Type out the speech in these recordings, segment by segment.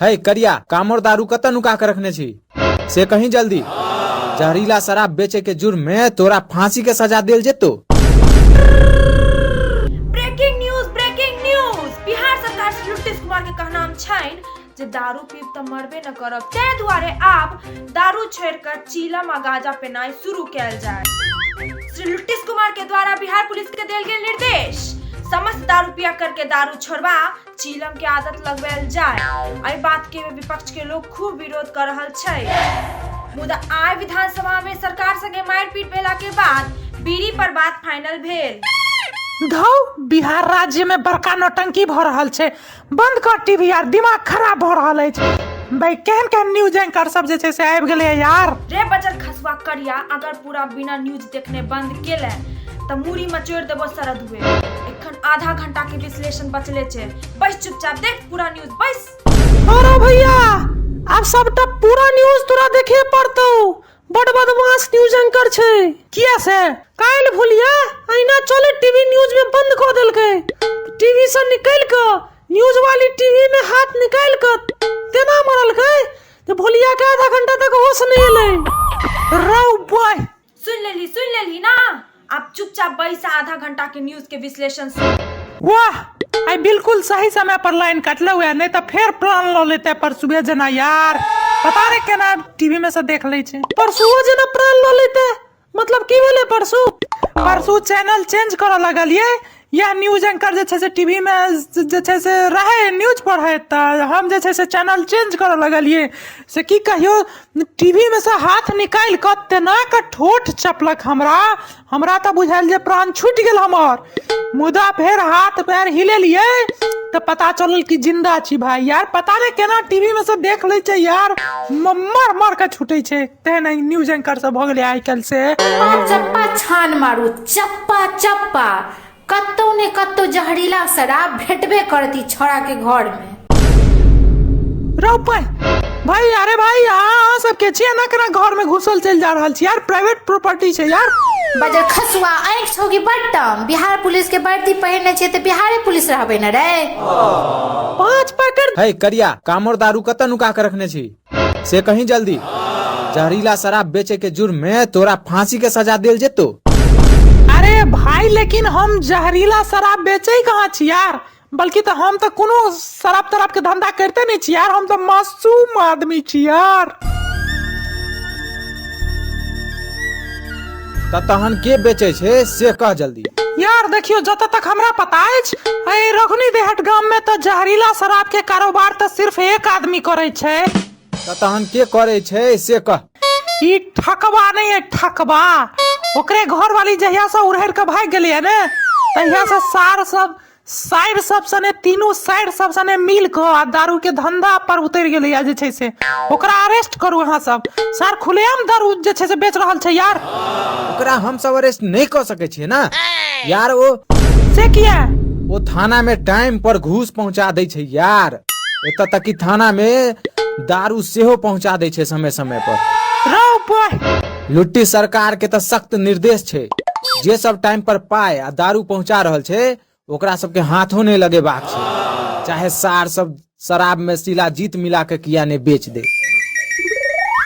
है करिया कामर दारू कतऽ नुका के रखने छी से कहीं जल्दी जहरीला शराब बेचे के जुर्म में तोरा फांसी के सजा देल जेतो breaking news breaking news Bihar सरकार से नीतीश कुमार के कहनाम छैन जे दारू पीब तऽ मरबे न करब ताहि दुआरे आब दारू छोड़िकऽ चीलम आ गांजा पेनाइ शुरू कयल जाय श्री नीतीश कुमार के द्वारा बिहार पुलिस के देल गेल निर्देश समस्त दारू पिया करके दारू छोड़बा चीलम के आदत लगवायल जाय एहि बात के विपक्ष के लोग खूब विरोध कर रहल छै मुदा आय विधानसभा में सरकार संगे मारपीट भेला के बाद बीड़ी पर बात फाइनल भेल धौ बिहार राज्य में बड़का नौटंकी भऽ रहल छै बंद कर टीवी यार दिमाग खराब भऽ रहल अछि भाई केहन केहन न्यूज एंकर सब जे छै से आबि गेलै यार रे बचल खसुआ करिया अगर पूरा बिना न्यूज देखने बंद केले तऽ मूड़ी मचोड़ देबो शरद हुए एखन आधा घंटा के विश्लेषण बचले छे बैस चुपचाप देख पूरा न्यूज बैस अरे भैया आब सबटा पूरा न्यूज तोरा देखे पड़तौ बड बदमाश न्यूज एंकर छै किया से काल्हि भुलिया अहिना चले टीवी न्यूज में बंद कऽ देलकै टीवी से निकलि कऽ न्यूज वाली टीवी में हाथ निकालि कऽ तेना मरलकै तो भोलिया के आधा घंटा तक होश नहीं अलै रौ बॉय सुन लेली सुन लेली ना आप चुपचाप बैस आधा घंटा के न्यूज के विश्लेषण सुन वाह आई बिल्कुल सही समय पर लाइन काटले हुए नहीं तो फिर प्लान लो लेते परसुए जना यार पता नहीं केना टीवी में से देख ले छे परसुओ जना प्लान लो लेते मतलब की भेलै परसू परसू चैनल चेंज करऽ लगलियै या न्यूज एंकर जे छै से टी वी मे जे छै से रहै न्यूज पढ़ैत तऽ हम जे छै से चैनल चेंज करऽ लगलियै से की कहियौ टी वी मे सँ हाथ निकालि कऽ तेना कऽ ठोठ चपलक हमरा हमरा तऽ बुझायल जे प्राण छुटि गेल हमर मुदा फेर हाथ पैर हिलेलियै तऽ पता चलल कि जिन्दा छी भाय यार पता नहि केना टी वी मे सँ देख लै छै यार मर मर कऽ छुटै छै तेहन न्यूज एंकर सब भऽ गेलै आइ काल्हि से चप्पा छान मारू चप्पा चप्पा कतौ ने कतौ जहरीला शराब भेटबे करत ई छौड़ा के घर में रौ भाई भाई अरे भाई अहाँ सबके छियै ना केना घर में घुसल चलि जा रहल छी यार प्राइवेट प्रॉपर्टी छै यार बजर खसुआ आँखि छौ कि बट्टम बिहार पुलिस के वर्दी पहिरने छियै तऽ बिहारे पुलिस रहबै ने रे पाँच पैकेट है करिया कामर दारू कतऽ नुका के रखने छी से कहीं जल्दी जहरीला शराब बेचे के जुर्म में तोरा फांसी के सजा दिल जेतो अरे भाई लेकिन हम जहरीला शराब बेचे ही कहाँ छी यार बल्कि तो हम तो कोनो शराब तराब के धंधा करते नहीं छी यार हम तो मासूम आदमी छी यार तऽ तहन के बेचै छै से कह जल्दी यार देखियो जत तक हमरा पता अछि एहि रघुनी देहट गाम में तऽ जहरीला शराब के कारोबार तऽ सिर्फ एक आदमी करे छै तऽ तहन के करै छै से कह ई ठकबा नहीं है ठकबा ओकरे घर वाली जहिया से उड़हर के भाग गेलिए ने तहिया से सार सब साइर सब सने तीनू साइर सब सने मिल कऽ आ दारू के धंधा पर उतरि गेलैया जे छै से ओकरा अरेस्ट करू अहाँ सब सर खुलेआम दारू जे छै से बेच रहल छै यार ओकरा हम सब अरेस्ट नहीं कर सके छिए ना यार वो से किया वो थाना में टाइम पर घूस पहुंचा दे छै यार एत तक कि थाना में दारू सेहो पहुंचा दे छै समय समय पर रौ बॉय लुट्टी सरकार के तऽ सख्त निर्देश छै जे सब टाइम पर पाय आ दारू पहुंचा रहल छै ओकरा सबके हाथो नहि लगेबाक छै चाहे सार सब शराब में शिलाजीत मिला के किया ने बेच दे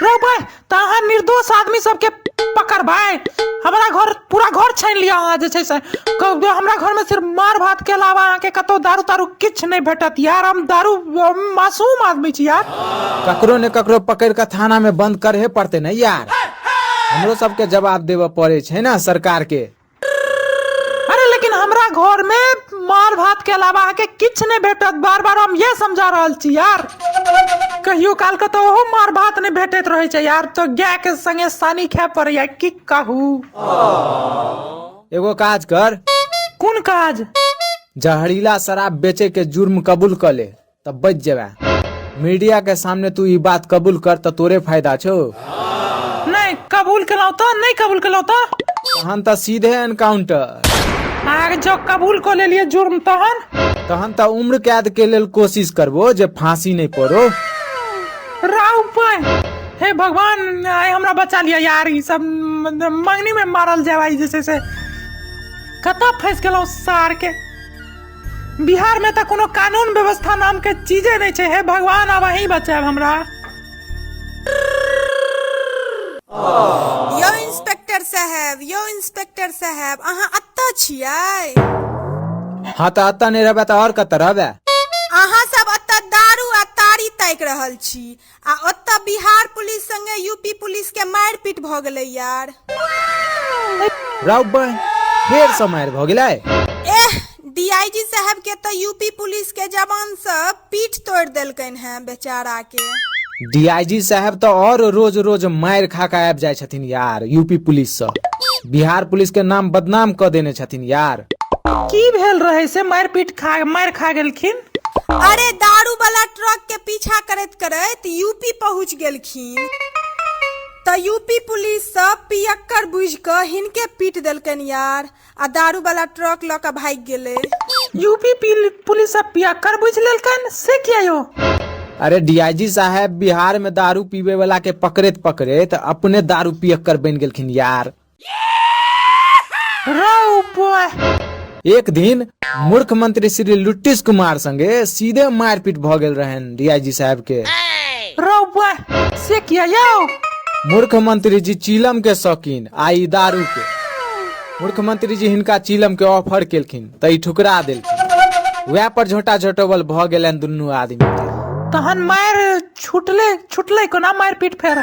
रे भाई तहाँ निर्दोष आदमी सबके पकड़ भाई हमारा घर पूरा घर छानि लिअ अहाँ जे छै से हमरा घरमे सिर्फ मार भातके अलावा अहाँके कतहु दारू तारू किछु नहि भेटत यार हम दारू मासूम आदमी छी यार ककरो ने ककरो पकड़ कऽ थानामे बन्द करहे पड़तै ने यार हमरो सबके जवाब देबऽ पड़ै छै ने सरकारके अरे लेकिन हमरा घरमे मार भातके अलावा अहाँके किछु नहि भेटत बार बार हम इएह समझा रहल छी यार कहियो कालके तऽ ओहो मार भात नहि भेटैत रहै छै यार तऽ गायके सङ्गे सानी खाय पड़ैया की काहू एगो काज कर कोन काज जहरीला शराब बेचे के जुर्म कबूल कर ले तब बच जेबे मीडिया के सामने तू ई बात कबूल कर त तोरे फायदा छो नहीं कबूल केलौं तो नहीं कबूल केलौं तो तहन त सीधे एनकाउंटर आगे जो कबूल को ले लिए जुर्म तहन तहन त उम्र कैद के लेल कोशिश करबो जे फांसी नहीं पड़ो राउ पाए हे भगवान आइ हमरा बचा लिअ यार ई सब मंगनी में मारल जाए ई जे छै से कतऽ फंस गेलहुँ सार के बिहार में तऽ कोनो कानून व्यवस्था नाम के चीजे नहि छै हे भगवान आब अहीं बचाएब हमरा यौ इंस्पेक्टर साहब यौ इंस्पेक्टर साहब अहाँ अत्ता छियै हाँ तऽ अत्ता नहि रहबै तऽ आओर कतऽ रहबै अहाँ सब अत्ता दारू आ तारी ताकि रहल छी आ ओतऽ बिहार पुलिस संगे यूपी पुलिस के मारपीट भऽ गेलै यार राउ बहन फेर से मारि भऽ गेलै एह डीआईजी साहब के तऽ यूपी पुलिस के जवान सब पीठ तोड़ देलकैन हैं बेचारा के डीआईजी साहब तऽ और रोज रोज मारि खा कऽ आबि जाइ छथिन यार यूपी पुलिस सँ बिहार पुलिस के नाम बदनाम कऽ देने छथिन यार की भेल रहै से मारि पीट खा मारि खा गेलखिन अरे दारू वाला ट्रक के पीछा करैत करैत यूपी पहुंच गेलखिन त यूपी पुलिस सब पियक्कर बुझ क हिनके पीट देलकन यार आ दारू वाला ट्रक ल क भाग गेले यूपी पिल- पुलिस सब पियक्कर बुझ लेलकन से किया यो अरे डीआईजी साहब बिहार में दारू पीवे वाला के पकड़ेत पकड़ेत अपने दारू पियक्कर बन गेलखिन यार एक दिन मूर्ख मंत्री श्री लुटिस कुमार संगे सीधे मारपीट भ गेल रहन डीआईजी साहब के रौआ से किया यौ मूर्ख मंत्री जी चीलम के शौकीन आ ई दारू के मूर्ख मंत्री जी हिनका चीलम के ऑफर केलखिन त ई ठुकरा देलखिन वएह पर झोटा झोटोबल भ गेलन दुनू आदमी के तहन मार छुटले छुटले कोना मारि पीट फेर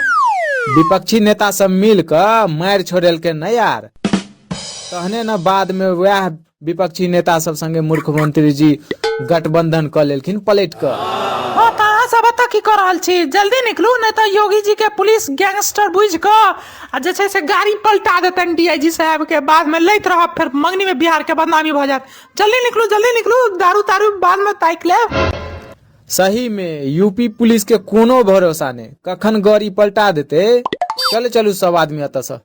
विपक्षी नेता सब मिल क मारि छोड़ेलकै न यार तहने न बाद में वह विपक्षी नेता सब संगे मुख्यमंत्री जी गठबंधन क लेलखिन पलट क हाँ तऽ अहाँ सब एतऽ की कऽ रहल छी जल्दी निकलू नहि तऽ योगी जी के पुलिस गैंगस्टर बुझि कऽ आ जे छै से गाड़ी पलटा देतनि डीआईजी साहब के बाद में लैत रहब फेर मंगनी में बिहार के बदनामी भऽ जायत जल्दी निकलू जल्दी निकलू दारू तारू बाद में ताकि लेब सही में यूपी पुलिस के कोनो भरोसा ने कखन गौरी पलटा देते चले चलू सब आदमी अतः से ए,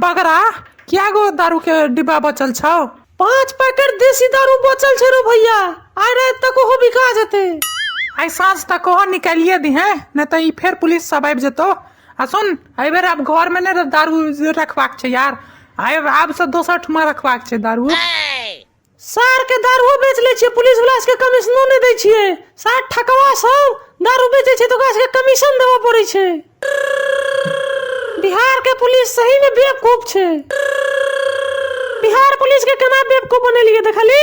बगरा क्या गो दारू के डिब्बा बचल छौ पांच पैकेट देसी दारू बचल छै रो भैया आइ रात तक ओहो बिका जेते आइ साँझ तक ओहो निकालिए दी हैं नहीं तो ई फेर पुलिस सब आबि जेतो आ सुन एहि बेर आब घर में ने दारू रखबाक छै यार आइ आब से दोसर ठमा रखबाक छै दारू सार के दारुओ बेच ले छियै पुलिस वाला सबके कमीशनो नहि दै छियै सार ठकवा सब दारू बेचै छै तऽ ओकरा सबके कमीशन देबऽ पड़ै छै बिहार के पुलिस सही में बेवकूफ छै बिहार पुलिस के केना बेवकूफ बनेलियै देखली